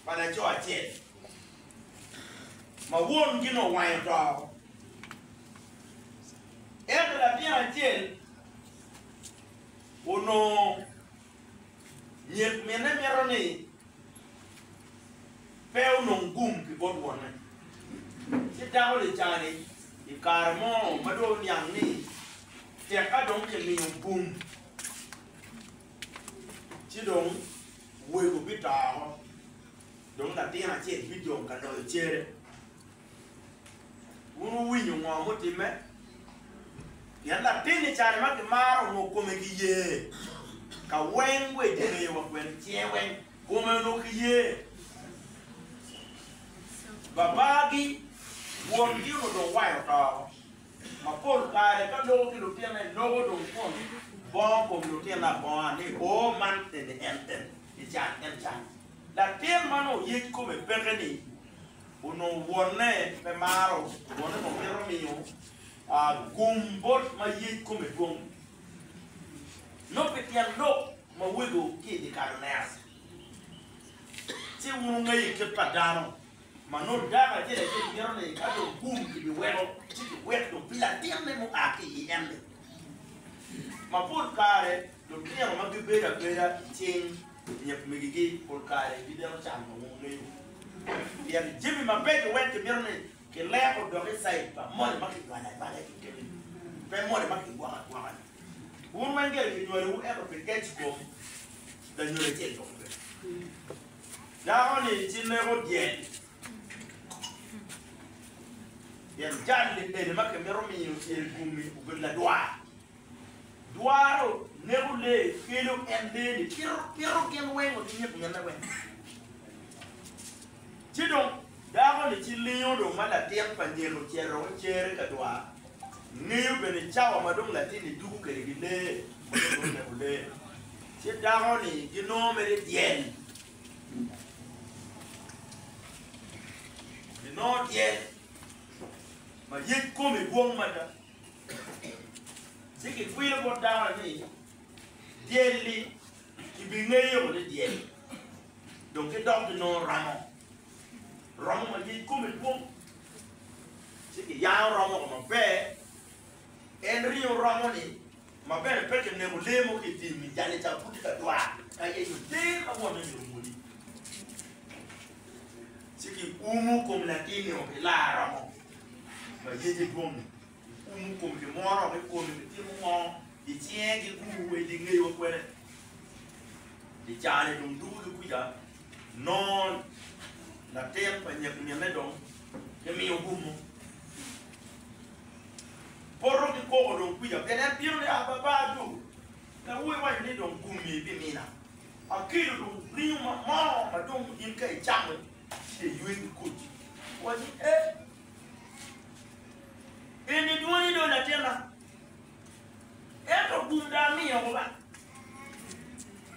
pa laco acel ma won gin owanyo to. Ento latin acel onongo nyek minne mito ni pe onong gum ki bot wonne. Ci dako-ni cani i kare mo ma dong oniang ni tek ka dong kimiyo gum. Ci dong wego bitoro, dong latin acel bijong ka loyo cere. Wun wuwinyo ngo mutimme? Pien latin i kare ma kimaro ongo kome ki ye, ka weng we kingeyo wa kwene cinge weng kome onok ki ye. Babagi, wongi onongo dong wayo too. Mapol kare ka loko ki lutine loko dong twon bongo kom lutine abonga ni oo man eni en en i can en can. Latin ma nongo yec kome peke ni onongo wonne pe maro wonne nongo mito miyo gum bot ma yec kome dwong nongo pi tyen lok ma wego ki i dye kalo ne ace. Ci wun wungeyo kit pa dano. Ma nongo dako acel acel mito ni ka dong gum kibiweko, ci kiwek dong pi latinne mua ki i ende. Mapol kare, lutino ma gibedo abeda i cing myek megigi pol kare gibino can ma wungeyo. Pien jami mabeco weng kimito ni kileko dok i caij pa moni ma kinywalo anywala i kine-ni, pe moni ma kigwoko agwoka-ni. Wun weng gire kinywalowu ento pi kec kom, lanyodo acel dong pe. Dako-ni ci leko dyel, pien jal-li bene ma kimito miyo dyelkumi obedo ladwar. Dwaro neko lee, kelo en lee-ni, pito gin weng wa ki nyig minne weng. Ci dong dako-ni ci lingo dong ma latin pa nyeko ocito wek cere ka dwar. Ngeyo bene cawa ma dong latinni tuku kwede ki lee ma dong dong oneko lee. Ce dako-ni ginongo mere dyel. Ginongo dyel ma yec kome dwong mada. Ci kikwilo bot dako-ni ni, Dyel-li kibingeyo ni dyel, dong ki dok ginongo ramo. romo ma yec kome dwong, ci kiyango romo ko maber. En ringo romo-ni ma bene pe kineko lee mo ki i tim ni jalle ca pud tye ka dwar ka yenyo ter ma wonne myero omodi. Ci kiumo kom latin-ni o ki laa romo ma yece dwong-ngi. Kum kom kimwono me kome me timo ngo i cinge gi gu wa i di ngeyo kwene i cani dong dugu di kuca non latin pa nyek mine dong ki miyo gumo poto ki koko dong kuca pien en bino ni a baba adu ka wu i waco ni dong gumi pi mina a kelo dong ringo ma mo ma dong in ka i camo ci de ywe ki kodi waci e. In idwoni do latinna, ento gum dong amiyo oko ba.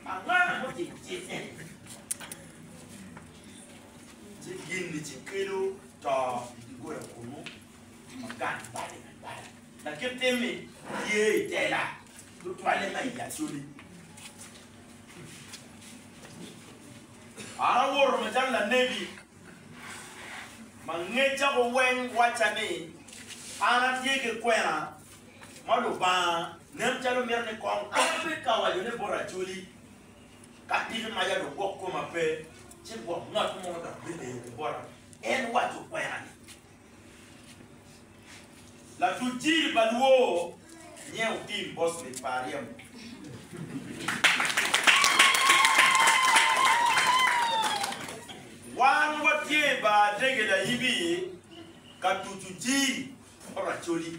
Angwana mo cik cik en. Ci gin-ni ci kelo to i doggola kunnu, ma gang bale me bala. Lakit tim-mi tye i tela tutwalle ma i Yaculi. An awoto macalo lanebi. ma ngeca ku weng wacca ni, An atye ki kwena ma Lubanga nen calo mito ni kong ape ka waco ni bot acoli, ka tiki maca dong gwok koma pe, ci gwok ngat mo dok bibedo ki bota, en waco kwena-ni. Latuc jiri pa Luo nyen Otim Bosnic pa Aryemo. Wan watye i bar ndege Layibi ka tucu jiri pa Racoli.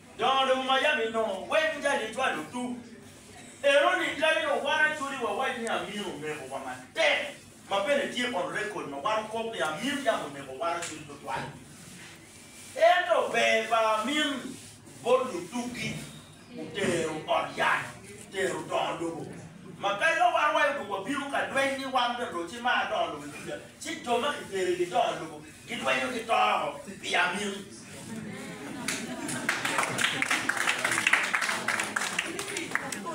Dongo dong Miami nongo weko jal ni cwalo tuk eno ni kadi dong wan acodi wawac ni Amir omeko wa matek ma bene tye on record ma wan kop ni Amir yam omeko wan acodi tutwal. Ento ber pa Amir bot lutuk gi otero ot yat tero dongo lobo ma kadi ka wan wayo dong wabino ka dweny ni wan bene dong ci mar dongo lobo i duca ci jo ma kitero i gi dongo lobo Gilwenyo ki to pi amin.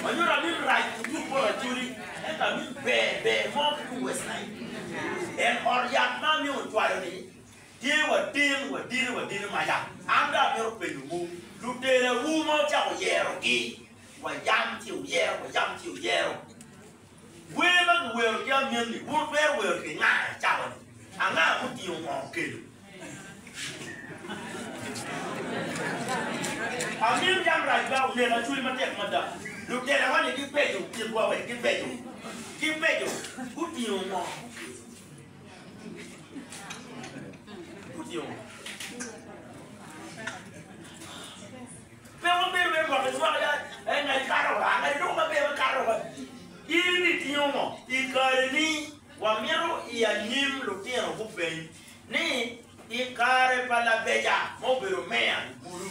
Manyuto amin rac ki tung bot Acholi, ento amin ber ber mo ki tung West Nile. En ot yat ma amin ocwayo ni tye wadin wadini wadini maca. An dong amito penyowu, lutelawu ma wucako yerogi, wayam ci wuyero, wayam ci wuyero, Wer ma giwero ki amyenni wun twero wero ki nga i cawani? Anga mutingo ngo kelo? Amyen yam rac ba oneka cwiny matek mada. Lutelawa-ni gibeco kitwa wek gibeco. Gibeco. Gutingo ngo kelo? Gutingo ngo? Pe wabedo me gwoko cwaka en ma ekato wa, anga dong ma bene wakato wa? In itingo ngo i kareni? Wamito i anyim lutino gupeny ni, I kare pa labeca ma obedo meya i bulu,